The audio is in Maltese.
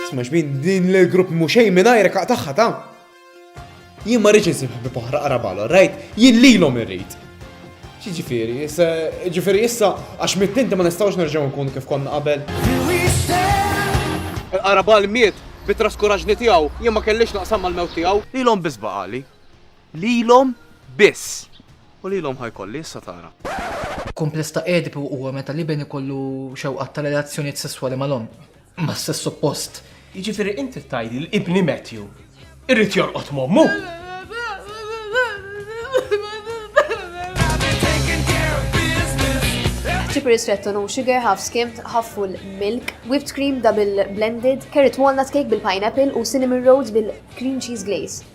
Sma xbin din l-grupp mu xej minn ajrek għaqtaħħa ta' jien ma rridx insib ħbib oħra qarabalu, rajt, jien lilhom irrid. Xi ġifieri, ġifieri issa għax mittinti ma nistgħux nerġgħu nkunu kif konna qabel. Qarabal miet bit-traskuraġni tiegħu jien ma kellix naqsam mal-mewt tiegħu. Lilhom biss baqali. Lilhom biss. U lilhom ħa jkolli, issa tara. Kumpless ta' Edipu huwa meta l-iben ikollu xewqat ta' relazzjonijiet sesswali mal-omm, mas-sess oppost. Jiġifieri int trid tgħidli li ibni Matthew irid jorqod m'ommu? Chip ristretto no sugar, half skimmed, half full milk, whipped cream double blended, carrot walnut cake bil-pineapple u cinnamon rolls bil-cream cheese glaze.